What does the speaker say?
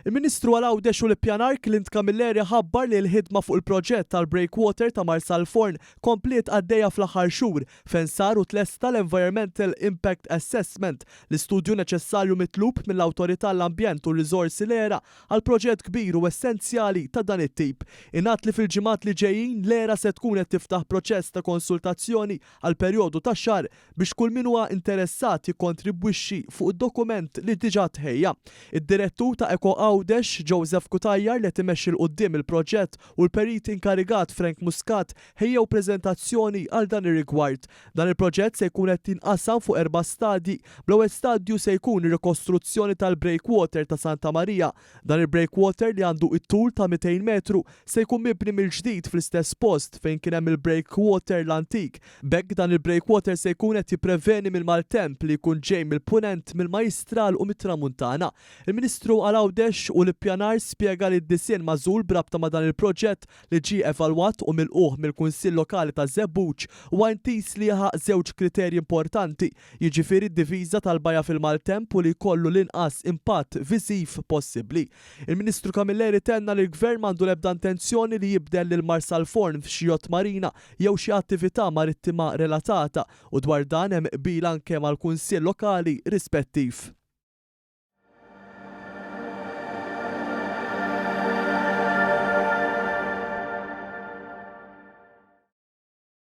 Il-Ministru għal Għawdex u l-Ippjanar Clint Camilleri ħabbar li l-ħidma fuq il-proġett tal-breakwater ta' Marsalforn kompliet għaddejja fl-aħħar xhur fejn sar u tlesta l-Environmental Impact Assessment, l-istudju neċessarju mitlub mill-Awtorità għall-Ambjent u r-Riżorsi l-ERA għal proġett kbir u essenzjali ta' dan it-tip. Ingħad li fil-ġimgħat li ġejjin l-ERA se tkun qed tiftaħ proċess ta' konsultazzjoni għal perjodu ta' xahar biex kull min huwa interessat jikkontribwixxi fuq id-dokument li diġà tħejja. Id-Direttur ta' Eco Għawdex, Joseph Cutajar li qed imexxi 'l quddiem il-proġett u l-Perit inkarigat Frank Muscat ħejjew preżentazzjoni għal dan ir-rigward. Dan il-proġett se jkun qed jinqasam fuq erba' stadji bl-ewwel stadju se jkun ir-rikostruzzjoni tal-breakwater ta' Santa Marija Dan il-breakwater li għandu it-tul ta' 200 metru se jkun mibni mill-ġdid fl-istess post fejn kien hemm il-breakwater l-antik. B'hekk dan il-breakwater se jkun qed jippreveni mill-maltemp li jkun ġej mill-Punent, mill-Majjistral u mit-Tramuntana. Il-Ministru għal Għawdex u l-Ippjanar spjega li d-disinn magħżul b'rabta ma' dan il-proġett li ġie evalwat u milqugħ mill-Kunsill Lokali ta' Żebbuġ huwa intiż li jilħaq żewġ kriterji importanti, jiġifieri d-diviża tal-bajja fil-maltemp u li jkollu l-inqas impatt viżiv possibbli. Il-Ministru Camilleri tenna li l-Gvern m'għandu l-ebda intenzjoni li jibdel lil Marsalforn f'xi yacht marina jew xi attività marittima relatata u dwar dan hemm qbil anke mal-Kunsill Lokali rispettiv.